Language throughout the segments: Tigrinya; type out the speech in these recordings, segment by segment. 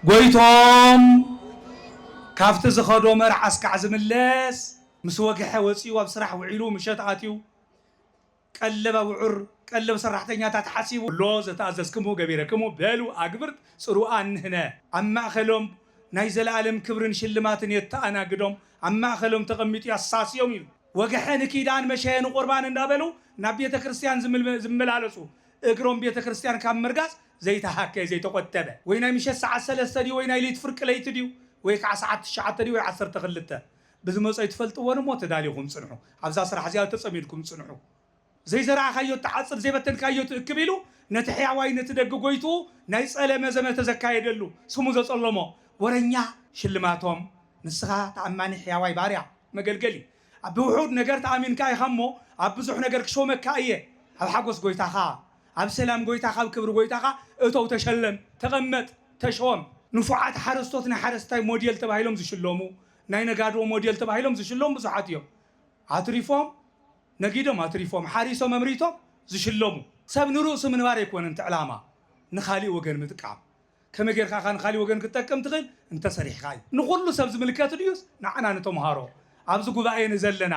ጎይትኦም ካብቲ ዝኸዶ መርዓ እስካዕ ዝምለስ ምስ ወግሐ ወፂኡ ኣብ ስራሕ ውዒሉ ምሸት ኣትዩ ቀለብ ኣብዑር ቀለብ ሰራሕተኛታት ሓሲቡ ኣሎ ዘተኣዘዝክምዎ ገቢረክሙ በሉ ኣግብርት ፅሩኣን ንህነ ኣብ ማእኸሎም ናይ ዘለኣለም ክብርን ሽልማትን የተኣናግዶም ኣብ ማእኸሎም ተቐሚጡ ያሳስዮም ኢሉ ወግሐ ንኪዳን መሸ ንቁርባን እንዳበሉ ናብ ቤተክርስትያን ዝመላለሱ እግሮም ቤተክርስትያን ካብ ምርጋፅ ዘይተሃከየ ዘይተቆጠበ ወይ ናይ ምሸት ሰዓት ሰለስተ ድዩ ወይ ናይ ለይቲ ፍርቂ ለይቲ ድዩ ወይ ከዓ ሰዓት ትሽዓተ ድዩ ወይ ዓሰርተ ክልተ ብዝመፆ ኣይትፈልጥዎን እሞ ተዳሊኹም ፅንሑ ኣብዛ ስራሕ እዚኣ ተፀሚድኩም ፅንሑ ዘይዘራእኻዮ እትዓፅድ ዘይበተንካዮ ትእክብ ኢሉ ነቲ ሕያዋይ ነቲ ደጊ ጎይትኡ ናይ ፀለመ ዘመተ ዘካየደሉ ስሙ ዘፀሎሞ ወረኛ ሽልማቶም ንስኻ ተኣማኒ ሕያዋይ ባርያ መገልገሊ ኣብ ብውሑድ ነገር ተኣሚንካ ኢኻ እሞ ኣብ ብዙሕ ነገር ክሾመካ እየ ኣብ ሓጎስ ጎይታኻ ኣብ ሰላም ጎይታኻ ኣብ ክብሪ ጎይታኻ እቶው ተሸለም ተቐመጥ ተሾም። ንፉዓት ሓረስቶት ናይ ሓረስታይ ሞዴል ተባሂሎም ዝሽለሙ ናይ ነጋዶ ሞዴል ተባሂሎም ዝሽለሙ ብዙሓት እዮም ኣትሪፎም ነጊዶም ኣትሪፎም ሓሪሶም ኣምሪቶም ዝሽለሙ። ሰብ ንርእሱ ምንባር ኣይኮነን እቲ ዕላማ ንኻሊእ ወገን ምጥቃም። ከመይ ጌርካ ኢኻ ንኻሊእ ወገን ክትጠቅም ትኽእል እንተ ሰሪሕኻ እዩ። ንኹሉ ሰብ ዝምልከት ድዩስ ንዓና ንተምሃሮ ኣብዚ ጉባኤ ንዘለና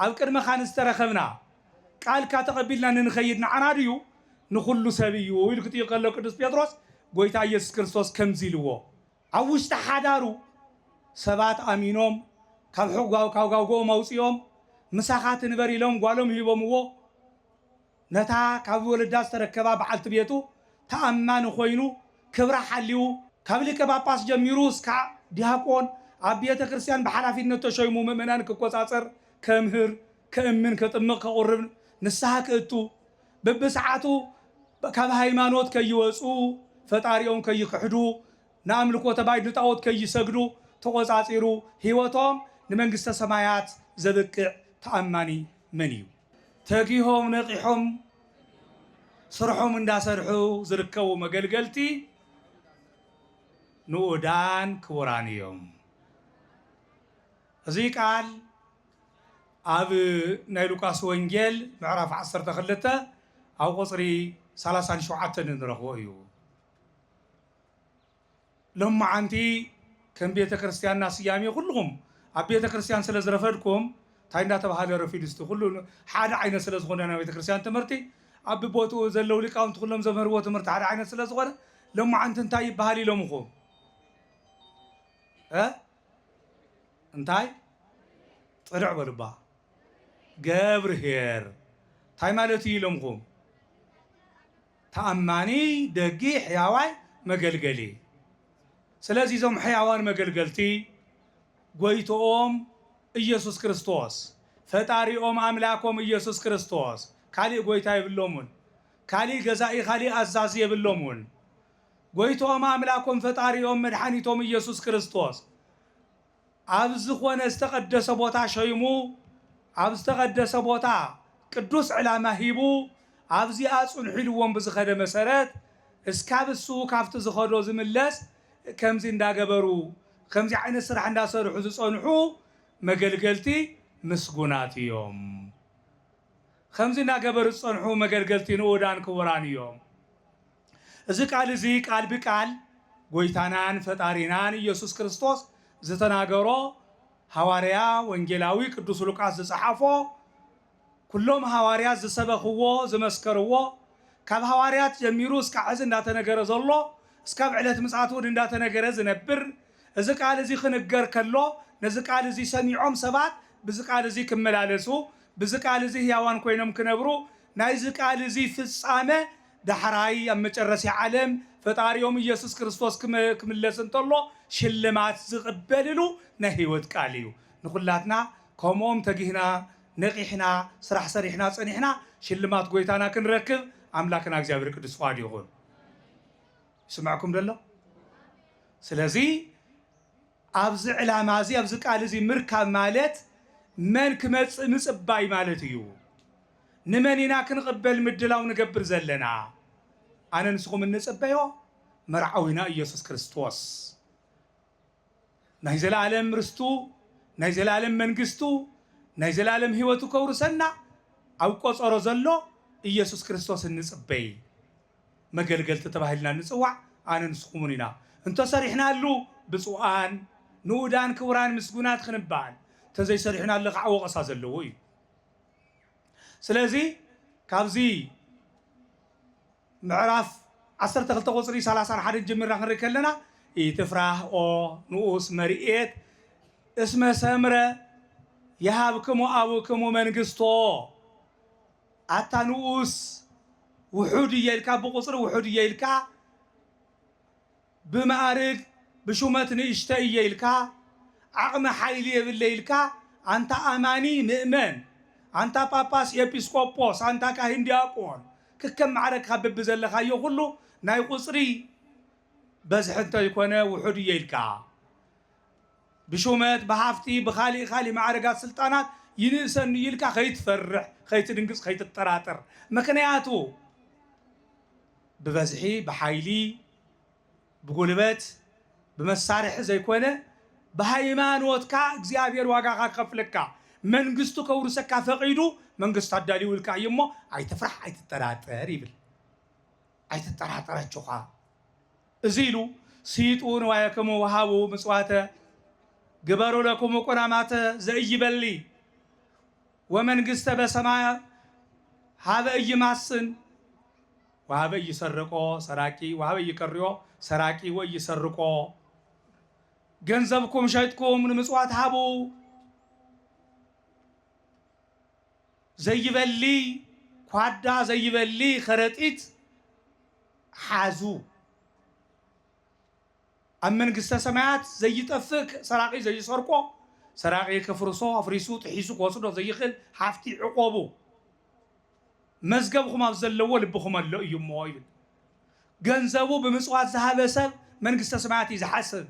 ኣብ ቅድመኻ ንዝተረኸብና ቃልካ ተቐቢልና ንንኸይድ ንዓና ድዩ? ንኹሉ ሰብ እዩ ኢሉ ክጥይቕ ከሎ ቅዱስ ጴጥሮስ ጎይታ ኢየሱስ ክርስቶስ ከምዚ ኢልዎ ኣብ ውሽጢ ሓዳሩ ሰባት ኣሚኖም ካብ ሕጓው ካብ ጋውግኦም ኣውጺኦም ምሳኻ ትንበር ኢሎም ጓሎም ሂቦምዎ ነታ ካብ ወለዳ ዝተረከባ በዓልቲ ቤቱ ተኣማኒ ኮይኑ ክብራ ሓልዩ፣ ካብ ሊቀ ጳጳስ ጀሚሩ እስካዕ ዲያቆን ኣብ ቤተ ክርስቲያን ብሓላፊነት ተሾይሙ ምእመናን ክቆጻጸር፣ ከምህር፣ ከእምን፣ ከጥምቕ፣ ከቑርብ፣ ንስሃ ክእቱ፣ በብሰዓቱ ካብ ሃይማኖት ከይወጹ፣ ፈጣሪኦም ከይክሕዱ፣ ንኣምልኮተ ባይድ ንጣኦት ከይሰግዱ ተቖጻጺሩ ሕይወቶም ንመንግስተ ሰማያት ዘብቅዕ ተኣማኒ መን እዩ? ተጊሆም ነቂሖም ስርሖም እንዳሰርሑ ዝርከቡ መገልገልቲ ንኡዳን ክቡራን እዮም። እዚ ቃል ኣብ ናይ ሉቃስ ወንጌል ምዕራፍ ዓሰርተ ክልተ ኣብ ቁፅሪ ሰላሳን ሸውዓተን እንረኽቦ እዩ። ሎምዓንቲ ከም ቤተ ክርስትያንና ስያሜ ኩሉኹም ኣብ ቤተ ክርስትያን ስለ ዝረፈድኩም ታይ እንዳተብሃለ ረፊዱ እስቲ ኩሉ ሓደ ዓይነት ስለ ዝኾነ ናይ ቤተ ክርስትያን ትምህርቲ ኣብ ቦትኡ ዘለው ሊቃውንቲ ኩሎም ዘምህርዎ ትምህርቲ ሓደ ዓይነት ስለ ዝኾነ ሎምዓንቲ እንታይ ይብሃል ኢሎምኹም እ እንታይ ፅርዕ በሉባ ገብርሄር ታይ ማለት እዩ ኢሎምኹም ተኣማኒ፣ ደጊ፣ ሕያዋይ መገልገሊ። ስለዚ እዞም ሕያዋን መገልገልቲ ጎይትኦም ኢየሱስ ክርስቶስ፣ ፈጣሪኦም ኣምላኮም ኢየሱስ ክርስቶስ ካሊእ ጎይታ የብሎሙን፣ ካሊእ ገዛኢ ካሊእ ኣዛዚ የብሎሙን። ጎይትኦም ኣምላኮም ፈጣሪኦም መድሓኒቶም ኢየሱስ ክርስቶስ። ኣብ ዝኾነ ዝተቐደሰ ቦታ ሸይሙ፣ ኣብ ዝተቐደሰ ቦታ ቅዱስ ዕላማ ሂቡ፣ ኣብዚኣ ጽንሑ ኢልዎም ብዝኸደ መሰረት፣ እስካብ እሱ ካብቲ ዝኸዶ ዝምለስ ከምዚ እንዳገበሩ፣ ከምዚ ዓይነት ስራሕ እንዳሰርሑ ዝጸንሑ መገልገልቲ ምስጉናት እዮም። ከምዚ እንዳገበሩ ዝጸንሑ መገልገልቲ ንኡዳን ክቡራን እዮም። እዚ ቃል እዚ ቃል ብቃል ጎይታናን ፈጣሪናን ኢየሱስ ክርስቶስ ዝተናገሮ ሃዋርያ ወንጌላዊ ቅዱስ ሉቃስ ዝጸሓፎ ኩሎም ሃዋርያት ዝሰበኽዎ ዝመስከርዎ ካብ ሃዋርያት ጀሚሩ እስካዕ ሕዚ እንዳተነገረ ዘሎ እስካብ ዕለት ምጽኣት እውን እንዳተነገረ ዝነብር እዚ ቃል እዚ ክንገር ከሎ ነዚ ቃል እዚ ሰሚዖም ሰባት ብዚ ቃል እዚ ክመላለሱ ብዚ ቃል እዚ ሕያዋን ኮይኖም ክነብሩ ናይዚ ቃል እዚ ፍጻመ ዳሕራይ ኣብ መጨረሲያ ዓለም ፈጣሪኦም ኢየሱስ ክርስቶስ ክምለስ እንተሎ ሽልማት ዝቅበልሉ ናይ ሕይወት ቃል እዩ። ንኩላትና ከምኦም ተጊህና ነቂሕና ስራሕ ሰሪሕና ጸኒሕና ሽልማት ጎይታና ክንረክብ ኣምላክና እግዚኣብሔር ቅዱስ ፍቃዱ ይኩን። ይስመዐኩም ዶ ኣሎ? ስለዚ ኣብዚ ዕላማ እዚ ኣብዚ ቃል እዚ ምርካብ ማለት መን ክመጽእ ምጽባይ ማለት እዩ። ንመን ኢና ክንቕበል ምድላው ንገብር ዘለና? ኣነ ንስኹም እንጽበዮ መርዓዊና ኢየሱስ ክርስቶስ ናይ ዘለኣለም ርስቱ ናይ ዘለኣለም መንግስቱ ናይ ዘለኣለም ሕይወቱ ከውርሰና ኣብ ቆጸሮ ዘሎ ኢየሱስ ክርስቶስ እንጽበይ መገልገልቲ ተባሂልና እንጽዋዕ ኣነ ንስኹምን ኢና እንተሰሪሕናሉ ብጹኣን ንኡዳን ክቡራን ምስጉናት ክንበኣል እንተዘይሰሪሑናሉ ከኣ ወቐሳ ዘለዎ እዩ። ስለዚ ካብዚ ምዕራፍ ዓሰርተ ክልተ ቁፅሪ ሰላሳን ሓደን ጀሚርና ክንርኢ ከለና ኢትፍራህ ኦ ንኡስ መርኤት እስመ ሰምረ የሃብክሙ ኣቡክሙ መንግስቶ ኣታ ንኡስ ውሑድ እየ ኢልካ ብቁፅሪ ውሑድ እየ ኢልካ ብመኣርግ ብሹመት ንእሽተይ እየ ኢልካ ዓቕሚ ሓይሊ የብለይ ኢልካ ኣንታ ኣማኒ ምእመን ኣንታ ጳጳስ ኤጲስቆጶስ ኣንታ ካህን ዲያቆን ክከም ማዕረግካ በብዘለካዮ ኩሉ ናይ ቁጽሪ በዝሒ እንተይኮነ ውሑድ እየ ኢልካ ብሹመት ብሃፍቲ ብካሊእ ካሊእ ማዕርጋት ስልጣናት ይንእሰኒ እዩ ኢልካ ከይትፈርሕ ከይትድንግጽ ከይትጠራጠር ምክንያቱ ብበዝሒ ብሓይሊ ብጉልበት ብመሳርሒ ዘይኮነ ብሃይማኖትካ እግዚኣብሔር ዋጋኻ ክኸፍለካ መንግስቱ ከውርሰካ ፈቒዱ መንግስቱ ኣዳሊውልካ እዩ እሞ ኣይትፍራሕ ኣይትጠራጠር ይብል ኣይትጠራጠር ኣጆኻ እዚ ኢሉ ስይጡ ንዋየክሙ ወሃቡ ምጽዋተ ግበሩ ለክሙ ቁናማተ ዘእይበሊ ወመንግስተ በሰማያ ሃበ እይማስን ወሀበይ ይሰርቆ ሰራቂ ወሀበይ ይቀርዮ ሰራቂ ወይ ይሰርቆ ገንዘብኩም ሸጥኩም ንምፅዋት ሃቡ ዘይበሊ ኳዳ ዘይበሊ ከረጢት ሓዙ ኣብ መንግስተ ሰማያት ዘይጠፍእ ሰራቂ ዘይሰርቆ ሰራቂ ክፍርሶ ኣፍሪሱ ጥሒሱ ክወስዶ ዘይኽእል ሃፍቲ ዕቆቡ መዝገብኹም ኣብ ዘለዎ ልብኹም ኣሎ እዩ እሞ ይብል። ገንዘቡ ብምጽዋት ዝሃበ ሰብ መንግስተ ሰማያት እዩ ዝሓስብ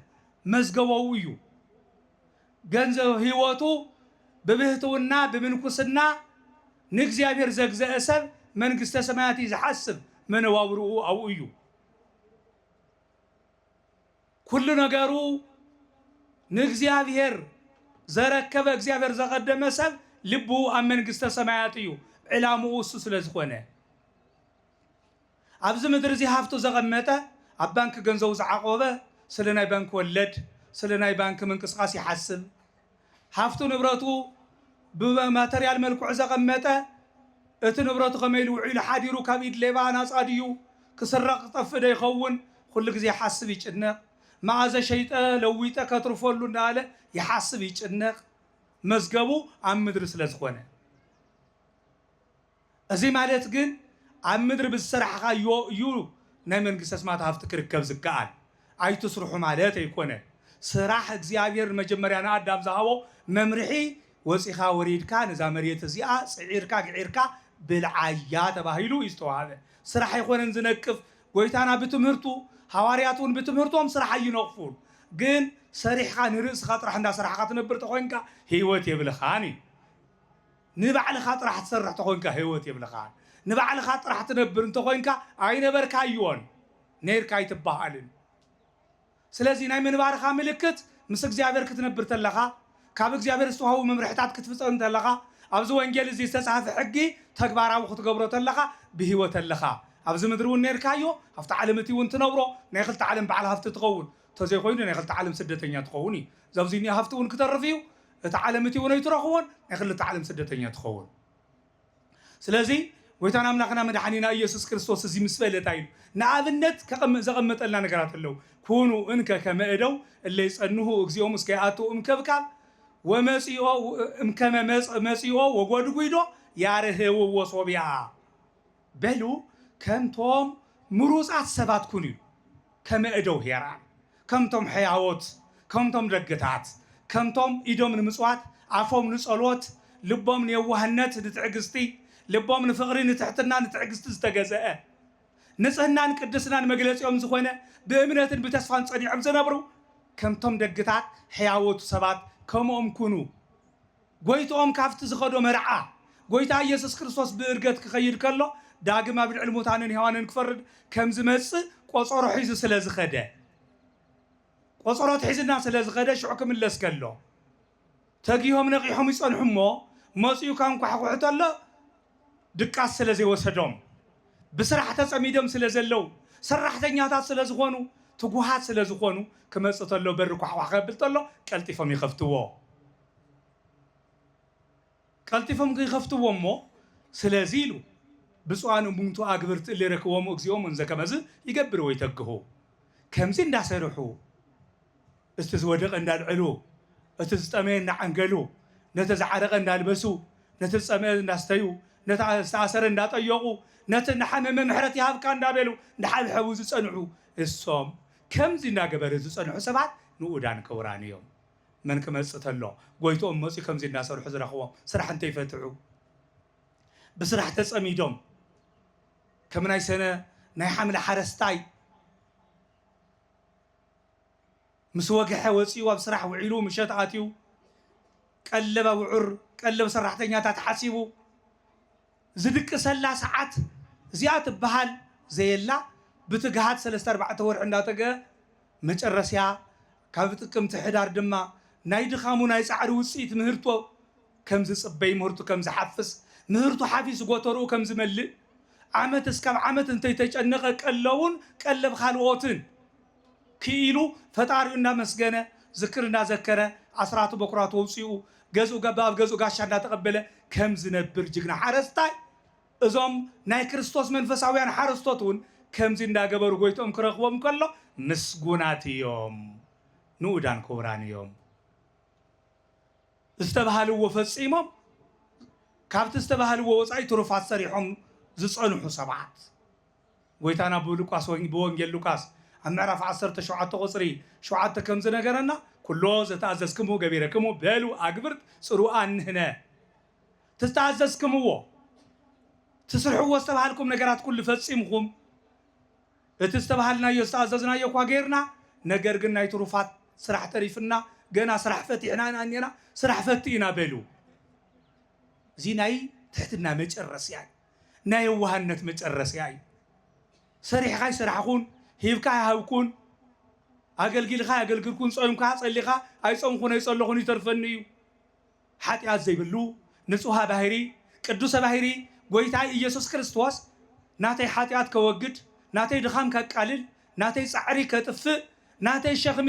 መዝገቦው እዩ። ገንዘብ ህይወቱ ብብህትውና ብምንኩስና ንእግዚኣብሔር ዘግዘአ ሰብ መንግስተ ሰማያት እዩ ዝሓስብ መነባብርኡ ኣብኡ እዩ። ኩሉ ነገሩ ንእግዚኣብሔር ዘረከበ እግዚኣብሔር ዘቀደመ ሰብ ልቡ ኣብ መንግስተ ሰማያት እዩ ዕላምኡ እሱ ስለ ዝኾነ ኣብዚ ምድሪ እዚ ሃፍቱ ዘቀመጠ ኣብ ባንኪ ገንዘቡ ዝዓቆበ ስለ ናይ ባንኪ ወለድ ስለ ናይ ባንኪ ምንቅስቃስ ይሓስብ ሃፍቱ ንብረቱ ብማተርያል መልክዑ ዘቐመጠ፣ እቲ ንብረቱ ከመይ ኢሉ ውዒሉ ሓዲሩ፣ ካብ ኢድ ሌባ ናጻ ድዩ፣ ክስረቕ ክጠፍእ ዶ ይኸውን፣ ኩሉ ግዜ ይሓስብ ይጭነቕ። መኣዘ ሸይጠ ለዊጠ ከትርፈሉ እንዳበለ ይሓስብ ይጭነቕ፣ መዝገቡ ኣብ ምድሪ ስለዝኾነ። እዚ ማለት ግን ኣብ ምድሪ ብዝሰራሕኻዮ እዩ ናይ መንግስተ ሰማያት ሃፍቲ ክርከብ ዝከኣል። ኣይትስርሑ ማለት ኣይኮነን። ስራሕ እግዚኣብሔር መጀመርያ ንኣዳም ዝሃቦ መምርሒ ወፂኻ ወሪድካ ነዛ መሬት እዚኣ ፅዒርካ ግዒርካ ብልዓያ ተባሂሉ እዩ ዝተውሃበ። ስራሕ ኣይኮነን ዝነቅፍ ጎይታና ብትምህርቱ ሃዋርያት እውን ብትምህርቶም ስራሕ ኣይነቕፉን። ግን ሰሪሕኻ ንርእስኻ ጥራሕ እንዳሰራሕኻ ትነብር ተኾይንካ ህይወት የብልኻን እዩ። ንባዕልኻ ጥራሕ ትሰርሕ ተኾንካ ህይወት የብልኻን ንባዕልኻ ጥራሕ ትነብር እንተኾይንካ ኣይነበርካዮን ነይርካ ኣይትበሃልን ስለዚ ናይ ምንባርኻ ምልክት ምስ እግዚኣብሔር ክትነብር ተለኻ ካብ እግዚኣብሔር ዝተዋህቡ መምርሕታት ክትፍጸም ተለኻ ኣብዚ ወንጌል እዚ ዝተጻህፈ ሕጊ ተግባራዊ ክትገብሮ ተለኻ ብህይወት ኣለኻ ኣብዚ ምድሪ እውን ነይርካዮ ኣብቲ ዓለም እቲ እውን ትነብሮ ናይ ክልተ ዓለም በዓል ሃፍቲ ትኸውን ተዘይኮይኑ ናይ ክልተ ዓለም ስደተኛ ትኸውን እዩ ዘብዙይ እኒኦ ሃፍቲ እውን ክተርፍ እዩ እታ ዓለም እቲውን ኣይትረኽቦን ናይ ክልተ ዓለም ስደተኛ ትኸውን ስለዚ ጎይታን ኣምላኽና መድሓኒና ኢየሱስ ክርስቶስ እዚ ምስ በለ እንታይ ኢሉ ንኣብነት ከቐም- ዘቐመጠልና ነገራት ኣለዉ ኩኑ እንከ ከመ እደው እለ ይጸንሁ እግዚኦም እስከ ይኣትው እምከብካብ ወመጺኦ እምከመ መጽ- መጺኦ ወጎድጒዶ ያርህውዎ ሶብያ በሉ ከምቶም ምሩጻት ሰባት ኩኑ፣ ከመ እደው ሄራን፣ ከምቶም ሕያዎት፣ ከምቶም ደግታት፣ ከምቶም ኢዶም ንምጽዋት፣ ኣፎም ንጸሎት፣ ልቦም ንየዋህነት፣ ንትዕግስቲ፣ ልቦም ንፍቕሪ፣ ንትሕትና፣ ንትዕግስቲ ዝተገዘአ፣ ንጽህናን ቅድስናን መግለጺኦም ዝኾነ፣ ብእምነትን ብተስፋን ጸኒዖም ዝነብሩ፣ ከምቶም ደግታት፣ ሕያዎት፣ ሰባት ከምኦም ኩኑ። ጐይትኦም ካብቲ ዝኸዶ መርዓ ጐይታ ኢየሱስ ክርስቶስ ብእርገት ክኸይድ ከሎ ዳግም ኣብ ልዕሊ ሙታንን ሕያዋንን ክፈርድ ከም ዝመጽእ ቆጸሮ ሒዙ ስለ ዝኸደ ቆጸሮ ኣትሒዝልና ስለ ዝኸደ ሽዑ ክምለስ ከሎ ተጊሆም ነቒሖም ይጸንሑ እሞ መጺኡ ከንኳሕኩሑ ተሎ ድቃስ ስለ ዘይወሰዶም ብስራሕ ተጸሚዶም ስለ ዘለው ሰራሕተኛታት ስለ ዝኾኑ ትጉሃት ስለ ዝኾኑ ክመጽእ ተሎ በሪ ኳሕኳሕ ከብል ተሎ ቀልጢፎም ይኸፍትዎ። ቀልጢፎም ከይከፍትዎ እሞ ስለዚ ኢሉ ብፁዓን እሙንቱ ኣግብርት እለ ይረክቦሙ እግዚኦም እንዘ ከመዝ ይገብር ወይተግሁ ከምዚ እንዳሰርሑ እቲ ዝወደቀ እንዳልዐሉ እቲ ዝጠመየ እንዳዓንገሉ ነቲ ዝዓረቀ እንዳልበሱ ነቲ ዝፀምኧ እንዳስተዩ ነቲ ዝተኣሰረ እንዳጠየቁ ነቲ እንዳሓመመ ምሕረት ይሃብካ እንዳበሉ እንዳሓብሐቡ ዝፀንሑ እሶም ከምዚ እንዳገበሩ ዝፀንሑ ሰባት ንኡዳን ክቡራን እዮም። መን ክመጽእ ተሎ ጎይትኦም መጽዩ ከምዚ እናሰርሑ ዝረኽቦም ስራሕ እንተይፈትሑ ብስራሕ ተጸሚዶም ከም ናይ ሰነ ናይ ሓምለ ሓረስታይ ምስ ወግሐ ወጺኡ ኣብ ስራሕ ውዒሉ ምሸት ኣትዩ ቀለብ ኣውዑር ቀለብ ሰራሕተኛታት ሓሲቡ ዝድቅሰላ ሰዓት እዚኣ ትበሃል ዘየላ ብትግሃት ሰለስተ ኣርባዕተ ወርሒ እንዳጠገ መጨረስያ ካብ ጥቅምቲ ሕዳር ድማ ናይ ድኻሙ ናይ ጻዕሪ ውጽኢት ምህርቶ ከም ዝጽበይ ምህርቱ ከም ዝሓፍስ ምህርቱ ሓፊሱ ጎተርኡ ከም ዝመልእ ዓመት እስካብ ዓመት እንተይተጨነቀ ቀለቡን ቀለብ ካልኦትን ክኢሉ ፈጣሪኡ እናመስገነ ዝክር እናዘከረ ኣስራቱ በኩራቱ ኣውፂኡ ገዝኡ ገባ ኣብ ገዝኡ ጋሻ እናተቀበለ ከም ዝነብር ጅግና ሓረስታይ እዞም ናይ ክርስቶስ መንፈሳውያን ሓረስቶት እውን ከምዚ እንዳገበሩ ጎይትኦም ክረክቦም ከሎ ምስጉናት እዮም ንኡዳን ኩቡራን እዮም ዝተብሃልዎ ፈፂሞም ካብቲ ዝተብሃልዎ ወፃኢ ትሩፋት ሰሪሖም ዝፀንሑ ሰባት። ጐይታና ብሉቃስ ወንጌ ብወንጌል ሉቃስ ኣብ ምዕራፍ ዓሰርተ ሸውዓተ ቍጽሪ ሸውዓተ ከም ዝነገረና ኵሎ ዘተኣዘዝክምዎ ገቢረክሙ በሉ ኣግብርት ጽሩ ኣንህነ እቲ ዝተኣዘዝክምዎ ትስርሕዎ ዝተባሃልኩም ነገራት ኵሉ ፈጺምኩም እቲ ዝተባሃልናዮ ዝተኣዘዝናዮ እኳ ገይርና ነገር ግን ናይ ትሩፋት ስራሕ ተሪፍና ገና ስራሕ ፈቲሕና ኢና እኔና ስራሕ ፈቲ ኢና በሉ እዚ ናይ ትሕትና መጨረስያ እዩ። ናይ የዋህነት መጨረስያ እዩ። ሰሪሕኻ ኣይሰራሕኹን፣ ሂብካ ኣይሃብኩን፣ ኣገልጊልኻ ኣየገልግልኩን፣ ጾይምካ ጸሊኻ ኣይጾምኹን ኣይጸለኹን ይተርፈኒ እዩ። ሓጢኣት ዘይብሉ ንጹሃ ባህሪ ቅዱሰ ባህሪ ጎይታይ ኢየሱስ ክርስቶስ ናተይ ሓጢኣት ከወግድ፣ ናተይ ድኻም ከቃልል፣ ናተይ ጻዕሪ ከጥፍእ፣ ናተይ ሸኽሚ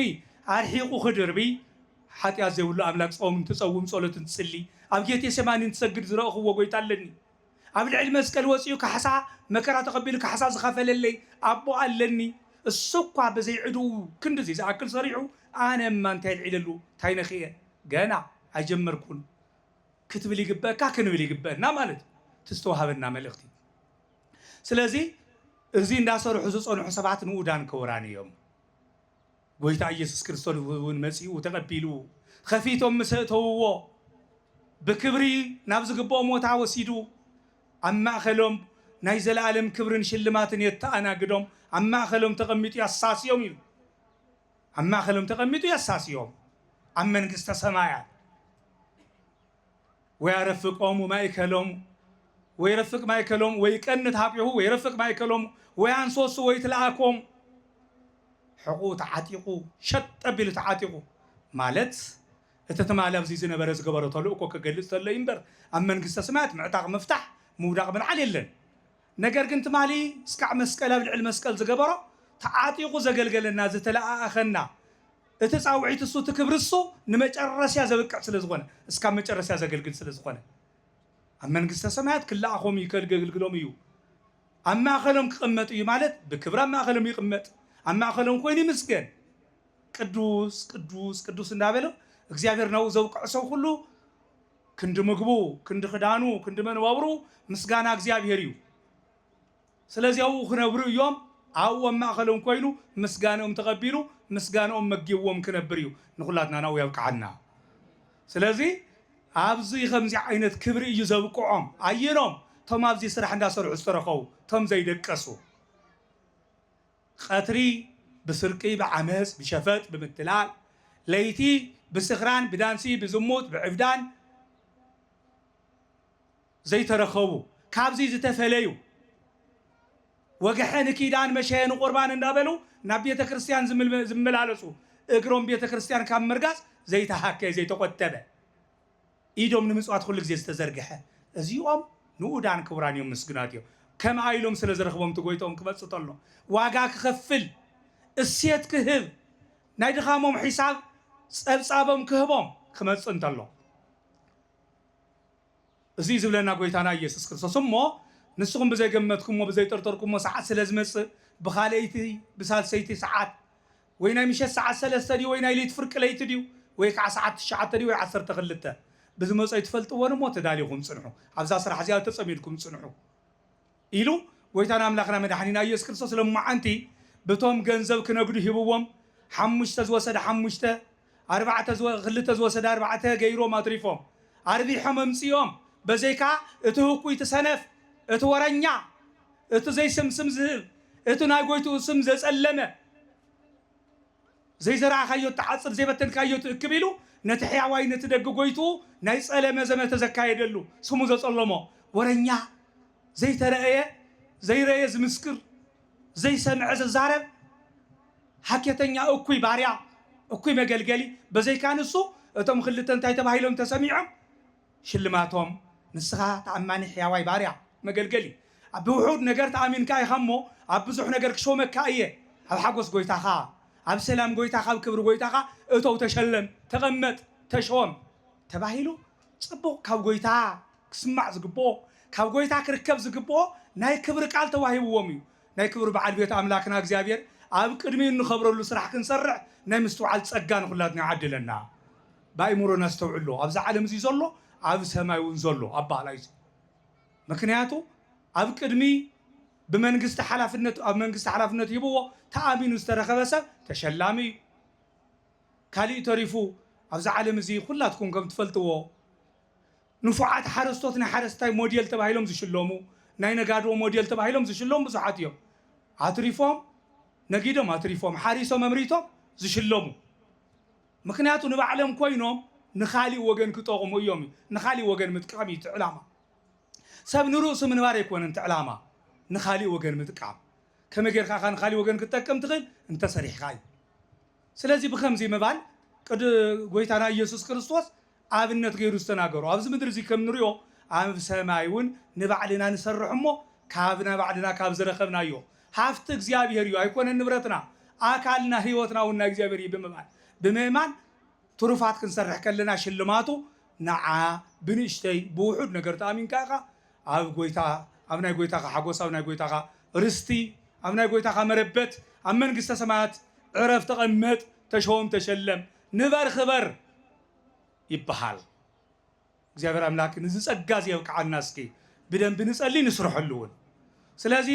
ኣርሒቑ ክድርብይ ሓጢኣት ዘይብሉ ኣምላክ ጾም እንትጸውም ጸሎት እንትጽሊ ኣብ ጌቴሴማኒ እንትሰግድ ዝረእኽዎ ጎይታ ኣለኒ። ኣብ ልዕሊ መስቀል ወጺኡ ካሕሳ መከራ ተቐቢሉ ካሕሳ ዝኸፈለለይ ኣቦ ኣለኒ እሱኳ ብዘይ ዕድኡ ክንድዚ ዝኣክል ሰሪሑ ኣነማ እንታይ ኣልዒለሉ ታይ ነኺኤ ገና ኣይጀመርኩን ክትብል ይግበእካ ክንብል ይግበእና ማለት እዩ እቲ ዝተዋሃበና መልእኽቲ ስለዚ እዚ እንዳሰርሑ ዝጸንሑ ሰባት ንኡዳን ክቡራን እዮም። ጎይታ ኢየሱስ ክርስቶስውን መጺኡ ተቀቢሉ ኸፊቶም ምስ ኣእተውዎ ብክብሪ ናብ ዝግብኦ ሞታ ወሲዱ ኣብ ማእኸሎም ናይ ዘለኣለም ክብርን ሽልማትን የተኣናግዶም ኣብ ማእኸሎም ተቀሚጡ ያሳስዮም ኢሉ ኣብ ማእኸሎም ተቀሚጡ ያሳስዮም ኣብ መንግስተ ሰማያት ወያረፍቆሙ ማእከሎሙ ወይረፍቅ ማእከሎሙ ወይቀንት ኀቤሁ ወይረፍቅ ማእከሎሙ ወያንሶሱ ወይትልኣኮሙ ሕቝኡ ተዓጢቑ ሸጥ ኣቢሉ ተዓጢቑ ማለት እቲ ትማል ኣብዚ ዝነበረ ዝገበሮ ተልእኮ ክገልጽ ተሎ ኢዩ እምበር ኣብ መንግስተ ስማያት ምዕጣቕ ምፍታሕ ምውዳቕ ምልዓል የለን ነገር ግን ትማሊ እስካዕ መስቀል ኣብ ልዕሊ መስቀል ዝገበሮ ተዓጢቁ ዘገልገለና ዝተለኣኣኸና እቲ ፃውዒት እሱ እቲ ክብሪ እሱ ንመጨረስያ ዘብቅዕ ስለ ዝኾነ እስካብ መጨረስያ ዘገልግል ስለ ዝኾነ ኣብ መንግስተ ሰማያት ክለኣኾም እዩ ከገልግሎም እዩ ኣብ ማእኸሎም ክቅመጥ እዩ ማለት ብክብሪ ኣብ ማእኸሎም ይቅመጥ ኣብ ማእኸሎም ኮይኑ ይምስገን ቅዱስ ቅዱስ ቅዱስ እንዳበለ እግዚኣብሔር ናብኡ ዘብቅዖ ሰብ ኩሉ ክንዲ ምግቡ ክንዲ ክዳኑ ክንዲ መንበብሩ ምስጋና እግዚኣብሔር እዩ ስለዚ ኣብኡ ክነብሩ እዮም ኣብኡ ኣብ ማእኸሎም ኮይኑ ምስጋንኦም ተቐቢሉ ምስጋንኦም መጊብዎም ክነብር እዩ ንኹላትና ናብኡ የብቅዓና ስለዚ ኣብዚ ከምዚ ዓይነት ክብሪ እዩ ዘብቅዖም ኣየኖም እቶም ኣብዚ ስራሕ እንዳሰርሑ ዝተረኸቡ እቶም ዘይደቀሱ ቐትሪ ብስርቂ ብዓመጽ ብሸፈጥ ብምትላል ለይቲ ብስኽራን ብዳንሲ ብዝሙት ብዕብዳን ዘይተረከቡ ካብዚ ዝተፈለዩ ወግሐ ንኪዳን መሸየ ንቁርባን እንዳበሉ ናብ ቤተክርስትያን ዝመላለሱ እግሮም ቤተክርስትያን ካብ ምርጋጽ ዘይተሃከየ ዘይተቆጠበ ኢዶም ንምጽዋት ኩሉ ግዜ ዝተዘርግሐ እዚኦም ንኡዳን ክቡራን ኢዮም ምስጉናት ኢዮም ከምኣ ኢሎም ስለ ዝረኽቦም እቲ ጎይትኦም ክመጽእ ተሎ ዋጋ ክኸፍል እሴት ክህብ ናይ ድኻሞም ሒሳብ ጸብጻቦም ክህቦም ክመጽእ እንተሎ እዚ እዩ ዝብለና ጎይታና ኢየሱስ ክርስቶስ እሞ ንስኹም ብዘይገመትኩሞ ብዘይጠርጠርኩሞ ሰዓት ስለ ዝመጽእ ብኻልኣይቲ ብሳልሰይቲ ሰዓት ወይ ናይ ምሸት ሰዓት ሰለስተ ድዩ ወይ ናይ ለይቲ ፍርቂ ለይቲ ድዩ ወይ ከኣ ሰዓት ትሽዓተ ድዩ ወይ ዓሰርተ ክልተ ብዝመጾ ኣይትፈልጥዎን እሞ ተዳሊኹም ጽንሑ ኣብዛ ስራሕ እዚኣ ተጸሚድኩም ጽንሑ ኢሉ ጎይታና ኣምላኽና መድሓኒና ኢየሱስ ክርስቶስ ሎማዓንቲ ብቶም ገንዘብ ክነግዱ ሂብዎም ሓሙሽተ ዝወሰደ ሓሙሽተ ኣርባዕተ ዝወ ክልተ ዝወሰደ ኣርባዕተ ገይሮም ኣትሪፎም ኣርቢሖም ኣምጺኦም በዘይካ እቲ ህኩይ እቲ ሰነፍ እቲ ወረኛ እቲ ዘይስም ስም ዝህብ እቲ ናይ ጎይትኡ ስም ዘጸለመ ዘይዘራእኻዮ እትዓጽድ ዘይበተንካዮ ትእክብ ኢሉ ነቲ ሕያዋይ ነቲ ደግ ጎይትኡ ናይ ጸለመ ዘመተ ዘካየደሉ ስሙ ዘጸለሞ ወረኛ ዘይተረእየ ዘይረእየ ዝምስክር ዘይሰምዐ ዝዛረብ ሃኬተኛ እኩይ ባርያ እኩይ መገልገሊ በዘይካ ንሱ እቶም ክልተ እንታይ ተባሂሎም ተሰሚዖም ሽልማቶም ንስኻ ተኣማኒ ሕያዋይ ባርያ መገልገሊ ኣብ ውሑድ ነገር ተኣሚንካ ኢኻ እሞ ኣብ ብዙሕ ነገር ክሾመካ እየ ኣብ ሓጎስ ጎይታኻ ኣብ ሰላም ጎይታኻ ኣብ ክብሪ ጎይታኻ እቶው ተሸለም ተቐመጥ ተሾም ተባሂሉ ጽቡቕ ካብ ጐይታ ክስማዕ ዝግብኦ ካብ ጐይታ ክርከብ ዝግብኦ ናይ ክብሪ ቃል ተዋሂብዎም እዩ። ናይ ክብሪ በዓል ቤት ኣምላክና እግዚኣብሔር ኣብ ቅድሚኡ እንኸብረሉ ስራሕ ክንሰርሕ ናይ ምስትውዓል ጸጋ ንኹላትና ይዓድለና። ብኣእምሮ ነስተውዕሎ ኣብዚ ዓለም እዚ ዘሎ ኣብ ሰማይ እውን ዘሎ ኣበሃህላ እዩ እዚ። ምክንያቱ ኣብ ቅድሚ ብመንግስቲ ሓላፍነት ኣብ መንግስቲ ሓላፍነት ሂብዎ ተኣሚኑ ዝተረከበ ሰብ ተሸላሚ እዩ። ካሊእ ተሪፉ ኣብዚ ዓለም እዚ ኩላትኩም ከም ትፈልጥዎ ንፉዓት ሓረስቶት ናይ ሓረስታይ ሞዴል ተባሂሎም ዝሽለሙ ናይ ነጋዶ ሞዴል ተባሂሎም ዝሽለሙ ብዙሓት እዮም ኣትሪፎም ነጊዶም ኣትሪፎም ሓሪሶም ኣምሪቶም ዝሽለሙ ምኽንያቱ ንባዕሎም ኮይኖም ንኻሊእ ወገን ክጠቕሙ እዮም እዩ ንኻሊእ ወገን ምጥቃም እዩ እቲ ዕላማ ሰብ ንርእሱ ምንባር ኣይኮነን እቲ ዕላማ ንኻሊእ ወገን ምጥቃም ከመይ ጌርካ ኢኻ ንኻሊእ ወገን ክትጠቅም ትኽእል እንተሰሪሕኻ እዩ ስለዚ ብኸምዚ ምባል ቅድ ጎይታና ኢየሱስ ክርስቶስ ኣብነት ገይሩ ዝተናገሮ ኣብዚ ምድሪ እዚ ከም ንሪኦ ኣብ ሰማይ እውን ንባዕልና ንሰርሕ እሞ ካብ ናይ ባዕልና ካብ ዝረኸብናዮ ሃፍቲ እግዚኣብሔር እዩ ኣይኮነን ንብረትና ኣካልና ሕይወትና እውን ናይ እግዚኣብሔር እዩ ብምባል ብምእማን ትሩፋት ክንሰርሕ ከለና ሽልማቱ ንዓ ብንእሽተይ ብውሑድ ነገር ተኣሚንካ ኢኻ ኣብ ጎይታ ኣብ ናይ ጎይታኻ ሓጎስ ኣብ ናይ ጎይታኻ ርስቲ ኣብ ናይ ጎይታኻ መረበት ኣብ መንግስተ ሰማያት ዕረፍ ተቐመጥ ተሾም ተሸለም ንበር ኽበር ይበሃል። እግዚኣብሔር ኣምላክ ንዚ ጸጋ እዚ የብቅዓና እስኪ ብደንቢ ንጸሊ ንስርሐሉ እውን ስለዚ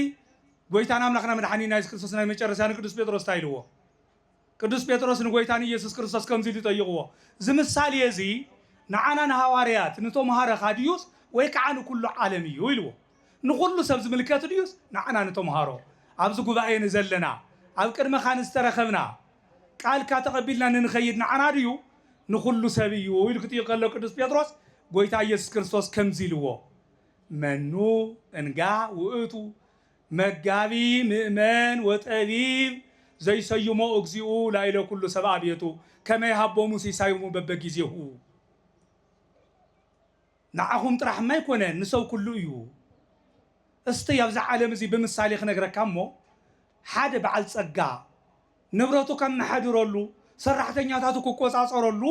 ጎይታና ኣምላክና መድሓኒና የሱስ ክርስቶስ ናይ መጨረሻ ንቅዱስ ጴጥሮስ እንታይ ኢልዎ ቅዱስ ጴጥሮስ ንጐይታ ንኢየሱስ ክርስቶስ ከምዚ ኢሉ ጠይቕዎ፣ እዚ ምሳሌ እዚ ንዓና ንሃዋርያት፣ ንቶምሃረኻ ድዩስ ወይ ከዓ ንኩሉ ዓለም እዩ? ኢልዎ። ንኹሉ ሰብ ዝምልከት ድዩስ ንዓና ንቶምሃሮ፣ ኣብዚ ጉባኤ ንዘለና፣ ኣብ ቅድመኻ ንዝተረኸብና፣ ቃልካ ተቐቢልና ንንኸይድ ንዓና ድዩ? ንኹሉ ሰብ እዩ ኢሉ ክጥይቕ ከሎ ቅዱስ ጴጥሮስ ጐይታ ኢየሱስ ክርስቶስ ከምዚ ኢልዎ፣ መኑ እንጋ ውእቱ መጋቢ ምእመን ወጠቢብ ዘይሰዩሞ እግዚኡ ላይለ ኩሉ ሰብኣ ቤቱ ከመ ይሃቦሙ ሲሳዩሙ በበጊዜሁ ንዓኹም ጥራሕማ ኣይኮነን ንሰብ ኩሉ እዩ። እስተይ ኣብዛ ዓለም እዚ ብምሳሌ ክነግረካ እሞ ሓደ በዓል ጸጋ ንብረቱ ከመሓድረሉ ሰራሕተኛታቱ ክቆጻጸረሉ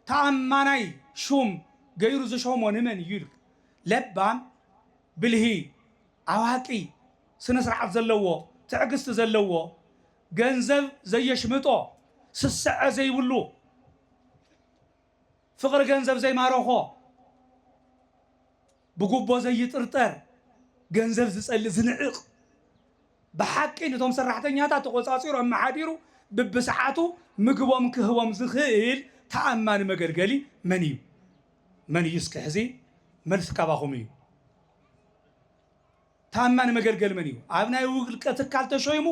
ተኣማናይ ሹም ገይሩ ዝሾሞ ንመን እዩ ኢልካ ለባም ብልሂ ኣዋቂ፣ ስነ ስርዓት ዘለዎ፣ ትዕግስቲ ዘለዎ፣ ገንዘብ ዘየሽምጦ፣ ስስዐ ዘይብሉ፣ ፍቕሪ ገንዘብ ዘይማረኾ፣ ብጉቦ ዘይጥርጠር፣ ገንዘብ ዝጸልእ ዝንዕቕ፣ ብሓቂ ንቶም ሰራሕተኛታት ተቖጻጺሩ ኣመሓዲሩ ብብሰዓቱ ምግቦም ክህቦም ዝኽእል ተኣማኒ መገልገሊ መን እዩ? መን እዩ እስኪ ሕዚ መልሲ ካባኹም እዩ። ታማኒ መገልገሊ መን እዩ? ኣብ ናይ ውልቀ ትካል ተሾይሙ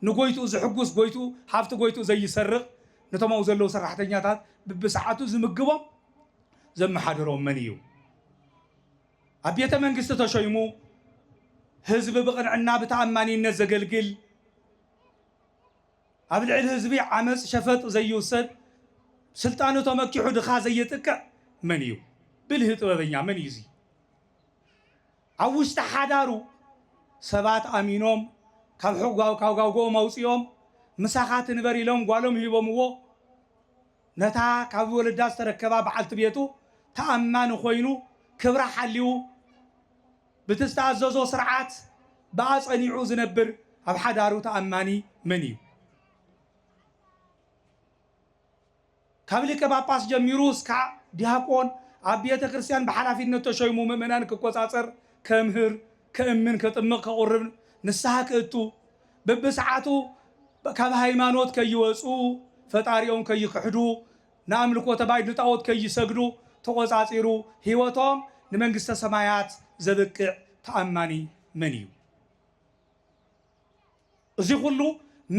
ንጎይትኡ ዝሕጉስ፣ ጎይትኡ ሃፍቲ ጎይትኡ ዘይሰርቕ፣ ነቶም ኣብኡ ዘለዉ ሰራሕተኛታት ብብሰዓቱ ዝምግቦም ዘመሓድሮም መን እዩ? ኣብ ቤተ መንግስቲ ተሾይሙ ህዝቢ ብቕንዕና ብተኣማኒነት ዘገልግል፣ ኣብ ልዕሊ ህዝቢ ዓመፅ ሸፈጥ ዘይውሰድ፣ ስልጣኑ ተመኪሑ ድኻ ዘየጥቅዕ መን እዩ? ብልሂ ጥበበኛ መን እዩ እዚ? ኣብ ውሽጢ ሓዳሩ ሰባት ኣሚኖም ካብ ሕጓው ካብ ጋውጎኦም ኣውጺኦም ምሳኻ ትንበር ኢሎም ጓሎም ሂቦምዎ ነታ ካብ ወለዳ ዝተረከባ በዓልቲ ቤቱ ተኣማኒ ኮይኑ ክብራ ሓልዩ ብቲ ዝተኣዘዞ ስርዓት ብኣ ጸኒዑ ዝነብር ኣብ ሓዳሩ ተኣማኒ መን እዩ? ካብ ሊቀ ጳጳስ ጀሚሩ እስካዕ ዲያቆን ኣብ ቤተ ክርስቲያን ብሓላፊነት ተሾይሙ ምእመናን ክቆጻጸር፣ ከምህር፣ ከእምን፣ ከጥምቕ፣ ከቑርብ፣ ንስሓ ክእቱ፣ በብሰዓቱ ካብ ሃይማኖት ከይወጽኡ፣ ፈጣሪኦም ከይክሕዱ፣ ንኣምልኮተ ባይድ ንጣኦት ከይሰግዱ ተቖጻጺሩ ሕይወቶም ንመንግሥተ ሰማያት ዘብቅዕ ተኣማኒ መን እዩ? እዚ ኹሉ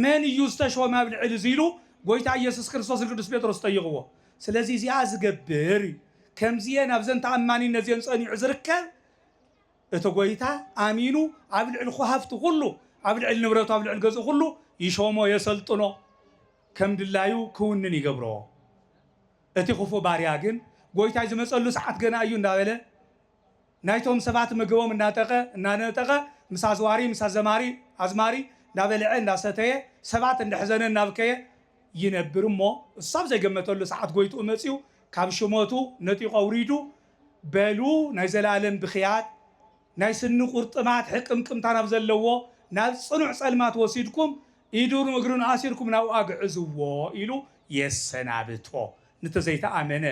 መን እዩ ዝተሾመ ኣብ ልዕሊ እዚ ኢሉ ጎይታ ኢየሱስ ክርስቶስ ንቅዱስ ጴጥሮስ ጠይቕዎ። ስለዚ እዚኣ ዝገብር እዩ ከምዚኤን ኣብዘን ተኣማኒነት እዚኤን ጸኒዑ ዝርከብ እቲ ጎይታ ኣሚኑ ኣብ ልዕሊ ኹሃፍቱ ኹሉ ኣብ ልዕሊ ንብረቱ ኣብ ልዕሊ ገዝኡ ኹሉ ይሾሞ የሰልጥኖ ከም ድላዩ ክውንን ይገብሮ እቲ ኹፉእ ባርያ ግን ጎይታይ ዝመጸሉ ሰዓት ገና እዩ እንዳበለ ናይቶም ሰባት ምግቦም እናጠቀ እናነጠቀ ምስ ኣዝዋሪ ምስ ኣዘማሪ ኣዝማሪ እንዳበልዐ እንዳሰተየ ሰባት እንደሕዘነ እናብከየ ይነብር እሞ እሱ ኣብ ዘይገመተሉ ሰዓት ጎይትኡ መጺኡ ካብ ሽመቱ ነጢቁ ኣውሪዱ በሉ ናይ ዘላለም ብክያት ናይ ስኒ ቁርጥማት ሕቅምቅምታ ናብ ዘለዎ ናብ ጽኑዕ ጸልማት ወሲድኩም ኢዱን እግሩን ኣሲርኩም ናብኡ ኣግዕዝዎ ኢሉ የሰናብቶ ንቲ ዘይተኣመነ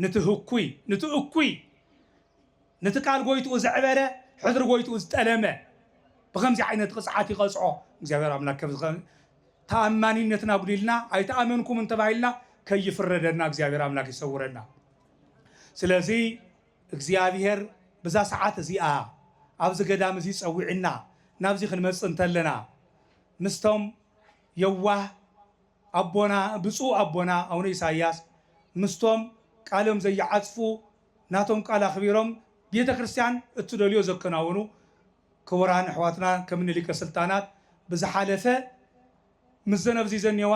ንቲ ህኩይ ንቲ እኩይ ነቲ ቃል ጎይትኡ ዘዕበረ ሕድሪ ጎይትኡ ዝጠለመ ብከምዚ ዓይነት ቕፅዓት ይቐፅዖ እግዚኣብሔር ኣምላክ ከምዚ ተኣማኒነትን ኣጉዲልና ኣይተኣመንኩምን ተባሂልና ከይፍረደና እግዚኣብሔር ኣምላክ ይሰውረና ስለዚ እግዚኣብሔር ብዛ ሰዓት እዚኣ ኣብዚ ገዳም እዚ ፀዊዕና ናብዚ ክንመፅእ እንተለና ምስቶም የዋህ ኣቦና ብጹእ ኣቦና ኣውነ ኢሳያስ ምስቶም ቃሎም ዘይዓጽፉ ናቶም ቃል ኣኽቢሮም ቤተ ክርስቲያን እትደልዮ ዘከናውኑ ክቡራን ኣሕዋትና ከም እኒ ሊቀ ስልጣናት ብዝሓለፈ ምስ ዘነብዚ ዘኔዋ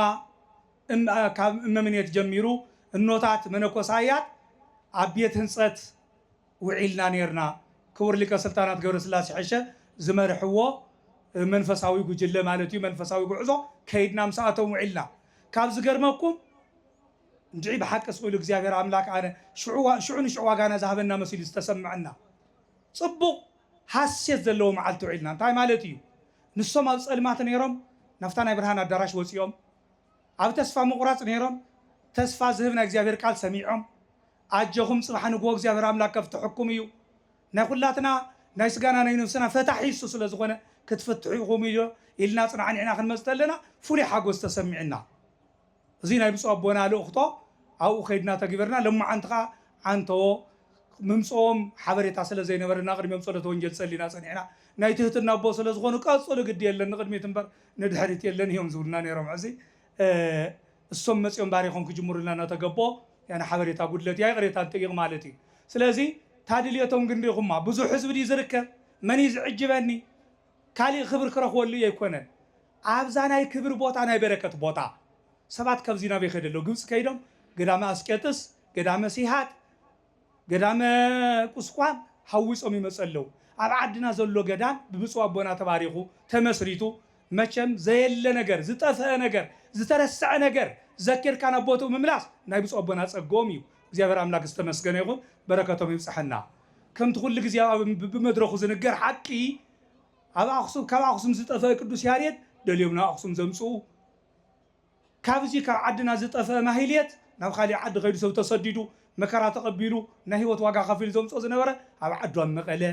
ካብ እመምኔት ጀሚሩ እኖታት መነኮሳያት ኣብ ቤት ህንጸት ውዒልና ኔርና። ክቡር ሊቀ ስልጣናት ገብረስላሴ ሐሸ ዝመርሕዎ መንፈሳዊ ጉጅለ ማለት እዩ መንፈሳዊ ጉዕዞ ከይድና ምሳኣቶም ውዒልና ካብ ዝገርመኩም እንድዒ ብሓቂ ስቅኢሉ እግዚኣብሔር ኣምላክ ኣነ ሽዑ ንሽዑ ዋጋና ዝሃበና መሲሉ ዝተሰመዐና ፅቡቅ ሃሴት ዘለዎ መዓልቲ ውዒልና እንታይ ማለት እዩ ንሶም ኣብ ፀልማት ነይሮም ናብታ ናይ ብርሃን ኣዳራሽ ወፂኦም ኣብ ተስፋ ምቁራፅ ነይሮም ተስፋ ዝህብ ናይ እግዚኣብሔር ቃል ሰሚዖም ኣጀኹም ጽባሕ ንግሆ እግዚኣብሔር ኣምላክ ከፍትሐኩም እዩ ናይ ኩላትና ናይ ስጋና ናይ ነብስና ፈታሒ እሱ ስለ ዝኾነ ክትፍትሑ ኢኹም ኢልና ጽናዕኒዕና ክንመጽ ተለና ፍሉይ ሓጎስ ተሰሚዕና እዚ ናይ ብጹእ ኣቦና ልእኽቶ ኣብኡ ከይድና ተግቢርና ለማዓንቲ ከኣ ዓንተዎ ምምጽኦም ሓበሬታ ስለ ዘይነበረና ቅድሚኦም ጸሎተ ወንጌል ጸሊና ጸኒዕና ናይ ትህትና ኣቦ ስለ ዝኾኑ ቀጽሉ ግዲ የለን ንቅድሚት እምበር ንድሕሪት የለን እዮም ዝብሉና ነይሮም ሕዚ እሶም መጽዮም ባሪኾም ክጅምሩልና ናተገብኦ ያነ ሓበሬታ ጉድለት እያ ይቕሬታ ንጥይቕ ማለት እዩ ስለዚ ታድልየቶም ግን ሪኹማ ብዙሕ ህዝቢ ድዩ ዝርከብ መን እዩ ዝዕጅበኒ ካሊእ ክብሪ ክረኽበሉ እየ ኣይኮነን ኣብዛ ናይ ክብሪ ቦታ ናይ በረከት ቦታ ሰባት ካብዚ ናበይ ከደሎ ግብጺ ከይዶም ገዳመ ኣስቄጥስ ገዳመ ሲሃት ገዳመ ቁስቋም ሃዊጾም ይመጹ ኣለዉ። ኣብ ዓድና ዘሎ ገዳም ብብጹእ ኣቦና ተባሪኹ ተመስሪቱ መቸም ዘየለ ነገር ዝጠፈኣ ነገር ዝተረሰዐ ነገር ዘኪርካ ናብ ቦትኡ ምምላስ ናይ ብጹእ ኣቦና ጸግኦም እዩ እግዚኣብሔር ኣምላክ ዝተመስገነ ይኹን በረከቶም ይብጸሐና ከምቲ ኩሉ ግዜ ኣብ ብብመድረኹ ዝንገር ሓቂ ኣብ ኣክሱም ካብ ኣክሱም ዝጠፈኣ ቅዱስ ያሬድ ደልዮም ናብ ኣክሱም ዘምጽኡ ካብዚ ካብ ዓድና ዝጠፈኣ ማህሌት ናብ ካሊእ ዓዲ ከይዱ ሰብ ተሰዲዱ መከራ ተቀቢሉ ናይ ሂወት ዋጋ ከፊሉ ዘምጽኦ ዝነበረ ኣብ ዓዱ ኣብ መቀለ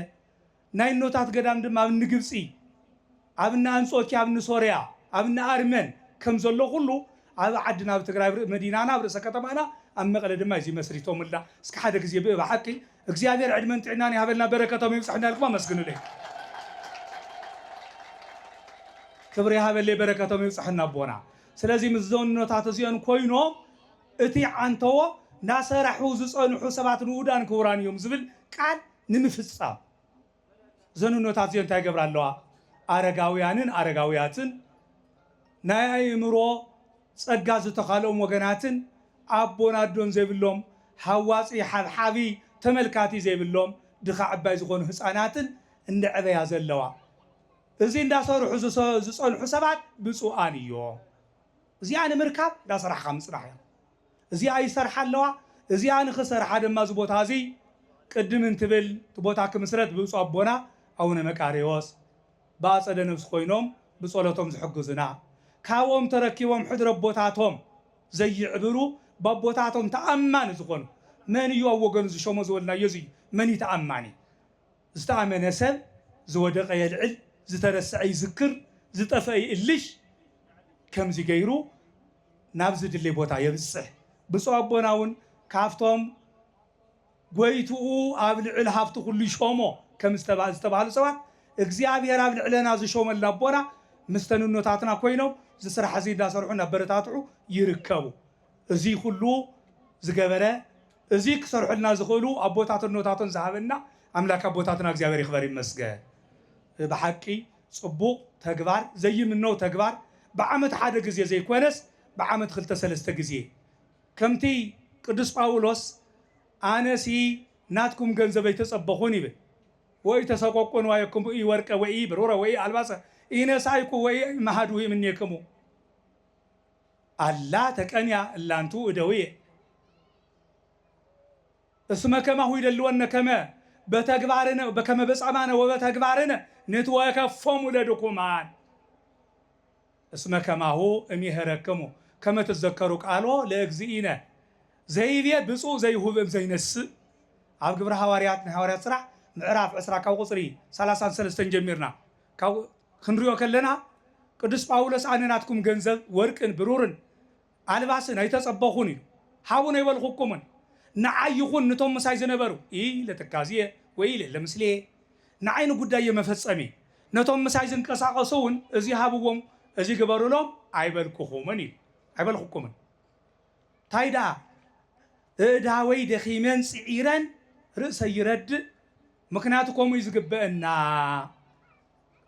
ናይ እኖታት ገዳም ድማ ኣብ እኒ ግብጺ ኣብ እኒ ኣንጾኪያ ኣብ እኒ ሶርያ ኣብ እኒ ኣርመን ከም ዘሎ ኩሉ ኣብ ዓድና ኣብ ትግራይ ኣብ መዲናና ኣብ ርእሰ ከተማና ኣብ መቀለ ድማ እዚ መስሪቶምልና እስኪ ሓደ ግዜ ብእብ ሓቂ እግዚኣብሔር ዕድመን ጥዕናን ይሃበልና በረከቶም ይብፃሕ እንዳልኩም ኣመስግኑለይ ክብሪ ይሃበለይ በረከቶም ይብፃሕና ኣቦና ስለዚ ምስ ዘኖታት እዚኦን ኮይኖም እቲ ዓንተዎ ናሰራሑ ዝፀንሑ ሰባት ንኡዳን ክቡራን እዮም ዝብል ቃል ንምፍፃም እዘን እኖታት እዚኦ እንታይ ይገብራ ኣለዋ? ኣረጋውያንን ኣረጋውያትን፣ ናይ ኣእምሮ ጸጋ ዝተኻልኦም ወገናትን፣ ኣቦን ኣዶን ዘይብሎም፣ ሃዋጺ፣ ሓብሓቢ፣ ተመልካቲ ዘይብሎም፣ ድኻ ዕባይ ዝኾኑ ህጻናትን እንደዕበያ ዘለዋ። እዚ እንዳሰርሑ ዝጸንሑ ሰባት ብጹኣን እዮም። እዚኣ ንምርካብ እንዳሰራሕኻ ምጽናሕ እያ። እዚኣ ይሰርሓ ኣለዋ። እዚኣ ንኽሰርሓ ድማ እዚ ቦታ እዚ ቅድም እንትብል እቲ ቦታ ክምስረት ብብፁዕ ኣቦና ኣቡነ መቃርዮስ ብኣፀደ ነብሲ ኮይኖም ብፀሎቶም ዝሕግዙና ካብኦም ተረኪቦም ሕድሪ ኣቦታቶም ዘይዕብሩ ብኣቦታቶም ተኣማኒ ዝኾኑ መን እዩ ኣብ ወገኑ ዝሾሞ ዝበልናዮ እዚ እዩ። መን እዩ ተኣማኒ? ዝተኣመነ ሰብ ዝወደቐ የልዕል፣ ዝተረስዐ ይዝክር፣ ዝጠፍአ ይእልሽ ከምዚ ገይሩ ናብ ዝድሌ ቦታ የብጽሕ። ብፁዕ ኣቦና እውን ካብቶም ጐይትኡ ኣብ ልዕል ሃብቲ ኩሉ ይሾሞ ከም ዝተባህሉ ሰባት እግዚኣብሔር ኣብ ልዕለና ዝሾመልና ኣቦና ምስ ተንኖታትና ኮይኖም እዚ ስራሕ እዚ እንዳሰርሑ እናበረታትዑ ይርከቡ። እዙይ ኩሉ ዝገበረ እዙይ ክሰርሑልና ዝኽእሉ ኣቦታት እኖታቶን ዝሃበና ኣምላክ ኣቦታትና እግዚኣብሔር ይኽበር ይመስገን። ብሓቂ ጽቡቕ ተግባር ዘይምነው ተግባር ብዓመት ሓደ ግዜ ዘይኮነስ ብዓመት ክልተ ሰለስተ ግዜ ከምቲ ቅዱስ ጳውሎስ ኣነሲ ናትኩም ገንዘብ ኣይተጸበኹን ይብል ወኢተሰቆቁ ንዋየክሙ ኢወርቀ ወኢብሩረ ወኢኣልባሰ ኢነሳይኩ ወኢመሃድሁ እምኔክሙ ኣላ ተቀንያ እላንቱ እደውየ እስመ ከማሁ ይደልወነ ከመ በተግባርነ ከመ በጻማነ ወበተግባርነ ንትወከፎሙ ለድኩማን እስመ ከማሁ እሜህረክሙ ከመ ትዘከሩ ቃሎ ለእግዚእነ ዘይቤ ብፁዕ ዘይሁብ እም ዘይነሥእ ኣብ ግብረ ሐዋርያት ናይ ሐዋርያት ሥራሕ ምዕራፍ ዕስራ ካብ ቁጽሪ ሠላሳን ሠለስተን ጀሚርና ክንሪኦ ከለና ቅዱስ ጳውሎስ ኣነ ናትኩም ገንዘብ ወርቅን ብሩርን ኣልባስን ኣይተጸበኹን ኢሉ ሃቡን ኣይበልኹኩምን ንዓይ ይኹን ንቶም ምሳይ ዝነበሩ ኢይ ለትካዝየ ወይ ኢለ ለምስሌየ ንዓይ ንጉዳየ መፈጸሚ ነቶም ምሳይ ዝንቀሳቐሱውን እዚ ሃብዎም እዚ ግበሩሎም ኣይበልኩኹምን ኢሉ ኣይበልኹኩምን ታይ ደኣ እእዳወይ ደኺመን ጽዒረን ርእሰይ ይረድእ ምክንያቱ ከምኡ እዩ ዝግበእና።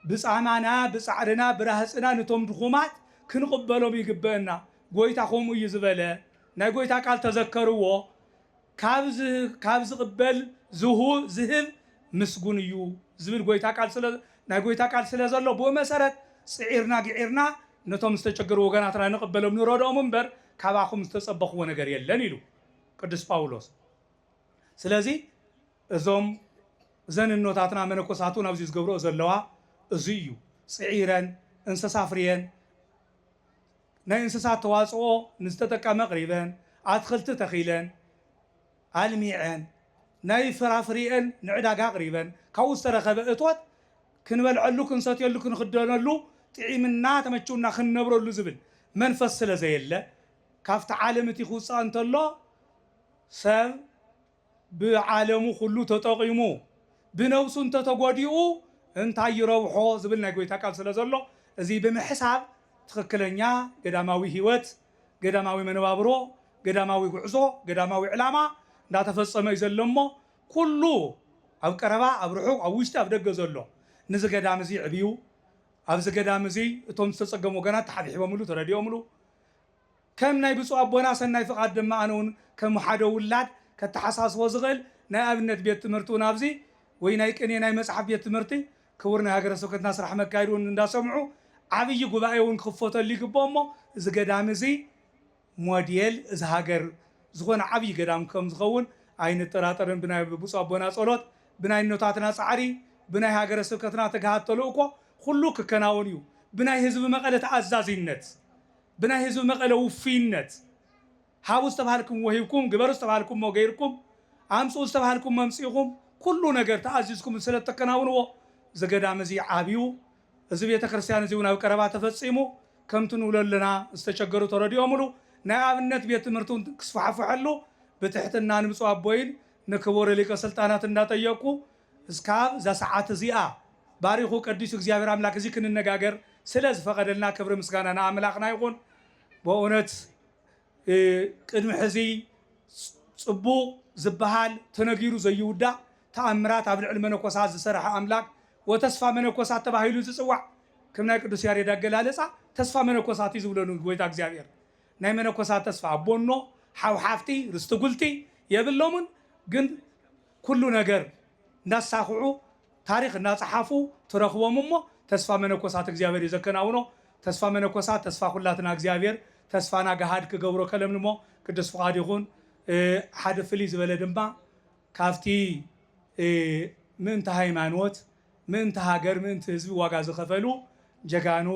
ብጻማና ብጻዕርና ብራህጽና ንቶም ድኹማት ክንቕበሎም ይግበእና ጎይታ ከምኡ እዩ ዝበለ ናይ ጎይታ ቃል ተዘከርዎ ካብ ካብ ዝቕበል ዝሁ ዝህብ ምስጉን እዩ ዝብል ጎይታ ቃል ስለ ናይ ጎይታ ቃል ስለ ዘሎ ብኡ መሰረት ጽዒርና ግዒርና ነቶም ዝተጨገሩ ወገናትና ንቕበሎም ንረድኦም እምበር ካባኹም ዝተጸበኽዎ ነገር የለን ኢሉ ቅዱስ ጳውሎስ ስለዚ እዞም እዘን እኖታትና መነኮሳት እውን ኣብዚ ዝገብርኦ ዘለዋ እዙይ እዩ ፅዒረን እንሰሳ ኣፍርየን ናይ እንስሳት ተዋፅኦ ንዝተጠቀመ ኣቕሪበን ኣትኽልቲ ተኺለን ኣልሚዐን ናይ ፍራፍሪኤን ንዕዳጋ ኣቕሪበን ካብኡ ዝተረኸበ እቶት ክንበልዐሉ ክንሰትየሉ ክንኽደነሉ ጥዒምና ተመችውና ክንነብረሉ ዝብል መንፈስ ስለዘየለ ካብቲ ዓለም እቲ ክውፃእ እንተሎ ሰብ ብዓለሙ ኩሉ ተጠቒሙ ብነብሱ እንተተጎዲኡ እንታይ ይረብሖ ዝብል ናይ ጎይታ ቃል ስለዘሎ እዙይ ብምሕሳብ ትኽክለኛ ገዳማዊ ሕይወት፣ ገዳማዊ መነባብሮ፣ ገዳማዊ ጉዕዞ፣ ገዳማዊ ዕላማ እንዳተፈፀመ እዩ ዘሎ እሞ ኩሉ ኣብ ቀረባ ኣብ ርሑቕ ኣብ ውሽጢ ኣብ ደገ ዘሎ ንዚ ገዳም እዙይ ዕብዩ ኣብዚ ገዳም እዙይ እቶም ዝተፀገሙ ወገናት ተሓብሒቦምሉ ተረዲኦምሉ ከም ናይ ብፁዕ ኣቦና ሰናይ ፍቃድ ድማ ኣነ ውን ከም ሓደ ውላድ ከተሓሳስቦ ዝኽእል ናይ ኣብነት ቤት ትምህርቲ ውን ኣብዚ ወይ ናይ ቅኔ ናይ መጽሓፍ ቤት ትምህርቲ ክቡር ናይ ሃገረ ስብከትና ስራሕ መካየዲ ውን እንዳ ሰምዑ ዓብይ ጉባኤ ውን ክኽፈተሉ ይግብኦ እሞ እዚ ገዳም እዚ ሞዴል እዚ ሃገር ዝኾነ ዓብይ ገዳም ከም ዝኸውን ኣይንጠራጠርን ብናይ ብፁዕ ኣቦና ጸሎት ብናይ እኖታትና ጻዕሪ ብናይ ሃገረ ስብከትና ትግሃት ተልእኮ ኹሉ ክከናወን እዩ ብናይ ህዝቢ መቐለ ተኣዛዚነት ብናይ ህዝቢ መቐለ ውፉይነት ሃቡ ዝተብሃልክምዎ ሂብኩም፣ ግበሩ ዝተብሃልክሞ ገይርኩም፣ ኣምፅኡ ዝተብሃልክሞ ኣምፂእኹም፣ ኩሉ ነገር ተኣዚዝኩም ስለእተከናውንዎ ዝገዳም እዚ ዓብዩ፣ እዚ ቤተ ክርስቲያን እዚውን ኣብ ቀረባ ተፈፂሙ ከምቲ ንብሎ ኣለና ዝተቸገሩ ተረዲኦምሉ ናይ ኣብነት ቤት ትምህርቲ እውን ክስፋሕፈሐሉ ብትሕትና ንብፁዕ ኣቦይን ንክቡር ሊቀ ስልጣናት እንዳጠየቅኩ እስካብ እዛ ሰዓት እዚኣ ባሪኩ ቀዲሱ እግዚኣብሔር ኣምላክ እዚ ክንነጋገር ስለ ዝፈቀደልና ክብሪ ምስጋና ንኣምላክና ይኩን በእውነት ቅድሚ ሕዚ ፅቡቅ ዝባሃል ተነጊሩ ዘይውዳእ ተኣምራት ኣብ ልዕሊ መነኮሳት ዝሰረሐ ኣምላክ ወተስፋ መነኮሳት ተባሂሉ ዝፅዋዕ ከም ናይ ቅዱስ ያሬድ ኣገላለፃ ተስፋ መነኮሳት እዩ ዝብሎ ንጎይታ እግዚኣብሔር ናይ መነኮሳት ተስፋ ኣቦኖ ሓው ሓፍቲ ርስቲ ጉልቲ የብሎምን ግን ኩሉ ነገር እንዳሳኽዑ ታሪኽ እንዳጸሓፉ ትረኽቦም እሞ ተስፋ መነኮሳት እግዚኣብሔር እዩ ዘከናውኖ ተስፋ መነኮሳት ተስፋ ኩላትና እግዚኣብሔር ተስፋና ገሃድ ክገብሮ ከለምልሞ ቅዱስ ፍቃዱ ይኹን ሓደ ፍልይ ዝበለ ድማ ካብቲ ምእንተ ሃይማኖት ምእንተ ሃገር ምእንቲ ህዝቢ ዋጋ ዝኸፈሉ ጀጋኑ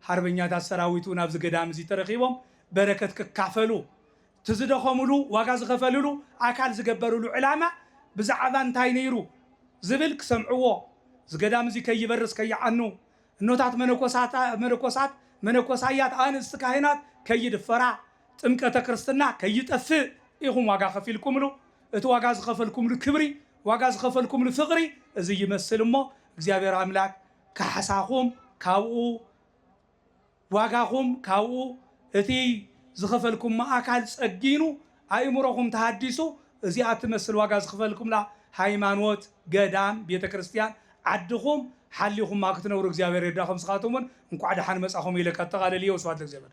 ሓርበኛታት ሰራዊቱ ናብዚ ገዳም እዚ ተረኺቦም በረከት ክካፈሉ እቲ ዝደኸምሉ፣ ዋጋ ዝኸፈልሉ፣ ኣካል ዝገበርሉ ዕላማ ብዛዕባ እንታይ ነይሩ ዝብል ክሰምዕዎ፣ እዚ ገዳም እዚ ከይበርስ ከይዓኑ፣ እኖታት መነኮሳት፣ መነኮሳያት፣ ኣንስቲ ካህናት ከይድፈራ፣ ጥምቀተ ክርስትና ከይጠፍእ ኢኹም ዋጋ ከፊልኩምሉ። እቲ ዋጋ ዝኸፈልኩምሉ ክብሪ፣ ዋጋ ዝኸፈልኩምሉ ፍቕሪ እዚ ይመስል እሞ እግዚኣብሔር ኣምላክ ካሕሳኹም ካብኡ። ዋጋኹም ካብኡ እቲ ዝኸፈልኩሞ ኣካል ጸጊኑ ኣእምሮኹም ተሃዲሱ እዚኣ እትመስል ዋጋ ዝኽፈልኩምላ ሃይማኖት፣ ገዳም፣ ቤተ ክርስትያን፣ ዓድኹም ሓሊኹማ ክትነብሩ እግዚኣብሔር ይርዳኹም ስኻትኩም እውን እንኳዕ ደሓን መጻኹም ኢለ ከጠቓልል እየ ወስብሃት ለእግዚኣብሔር።